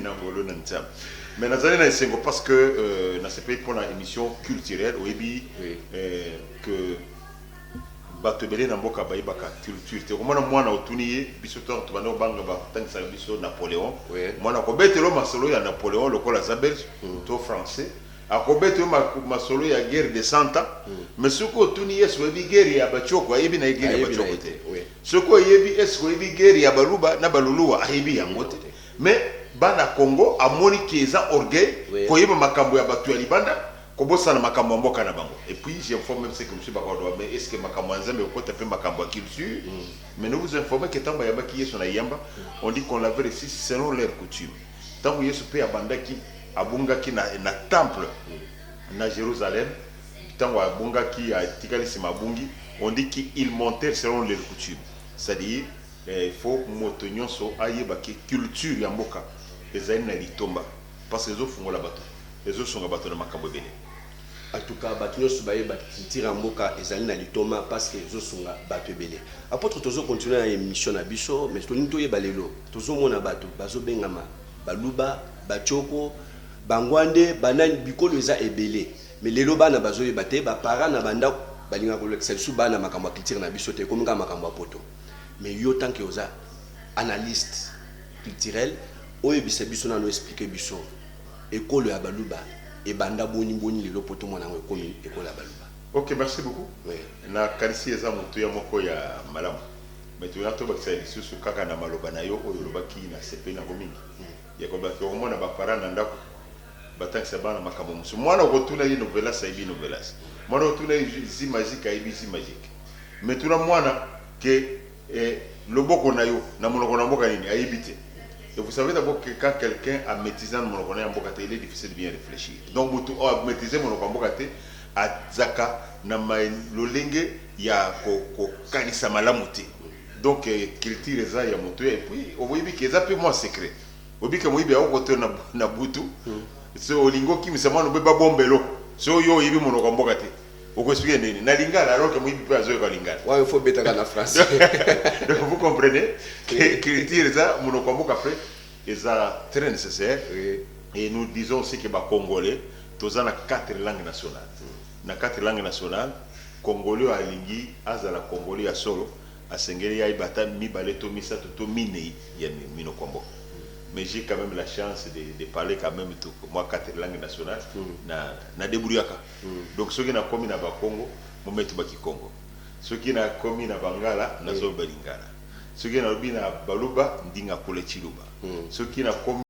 na ngolo na nzambe mais nazali na esengo parce que euh, nasepeli mpo na émission culturelle oyebi oui. euh, que bato ebele na mboka bayebaka culture te okomona mwana otuni ye biso ntango tobanda kobanga batangisaka biso napoléon oui. mwana kobetelo masolo ya napoléon lokola aza belge mm. to français Akobeta yo masolo ya guerre de 100 ans mais soki otuni ye eske oyebi guerre ya ba tshoko ayebi naye guerre ya ba tshoko te soki oyebi eske oyebi guerre ya baluba na baluluwa ayebi yango te mais bana congo amoni que eza orgueil koyeba makambo ya batu ya libanda kobosana makambo ya mboka na bango et puis j'informe meme ce que mosusu bakoloba mais eske makambo ya nzambe ekokota pe makambo ya culture mais nous vous informe que tango bayambaki yesu na iyamba on dit qu'on l'avait reçu selon leur coutume Ntango Yesu mpe abandaki, abungaki na, na temple, na Jerusalem, ntango abungaki, atikali nsima, abungi, on dit que ils montèrent selon leur coutume, c'est-à-dire, eh, il faut moto nyonso ayeba que culture ya mboka ezali na litomba, parce que ezofungola bato, ezosunga bato na makambo ebele. En tout cas batu nionso baye ba culture ya mboka ezali na litoma pasque ezo sunga batu ebele. Apotre tozo continuer na emission na biso mais tolingi toyeba lelo tozo mona batu bazo bengama baluba, batshoko, bangwande, banani bikolo eza ebele mais lelo bana bazo yeba te ba parents na ba ndaku balingaka kolakisa lisusu bana makambo ya culture na biso te ekomi kaka makambo ya poto mais yo tant que oza analyste culturel oyebisa biso nanu expliquer biso Ekolo ya baluba ebanda boni boni lelo poto mona yango ekomi ekolo ya baluba. Ok merci beaucoup na kanisi eza motuya moko ya malamu mais toya tobakisa lisusu kaka na maloba na yo oyo olobaki na sepeli nango mingi ya kolobaki okomona ba parents na ndaku batangisa bana makambo mosusu mwana okotuna ye novelas ayebi novelas mwana okotuna ye zi magique ayebi zi magique mais tuna mwana que Et loboko nayo na monoko na mboka nini ayebi te et vous savez d'abord que quand quelqu'un a maitrise nanu monoko naye ya mboka te il est difficile de bien reflechir donc mutu oyo a maitriser monoko ya mboka te azaka na lolenge ya ko kanisa malamu te donc culture eza ya mutu et puis oyebi ke eza pe mua secret oyebi ke moyibi ako kote yo na butu soki olingi okimisa muana obeba bombelo soki yo oyebi monoko ya mboka te Oko expliquer ndenge nini? Na lingala alors que moyibi pe azo yoka lingala. Wana il faut obetaka na français. Donc vous comprenez que culture eza munoko ya mboka pe eza très necessaire et nous disons aussi que ba congolais toza na quatre langues nationales. Na quatre langues nationales congolais oyo alingi azala congolais ya solo asengeli ayeba ata mibale to misato to mineyi ya minoko ya mboka. Mais j'ai quand meme la chance de parler quand meme mwa quatre langues nationales na debrouillaka. Donc soki na komi na bakongo mometu ba kikongo soki na komi na bangala na zoloba lingala soki na lobi na baluba ndinga kule tshiluba soki na komi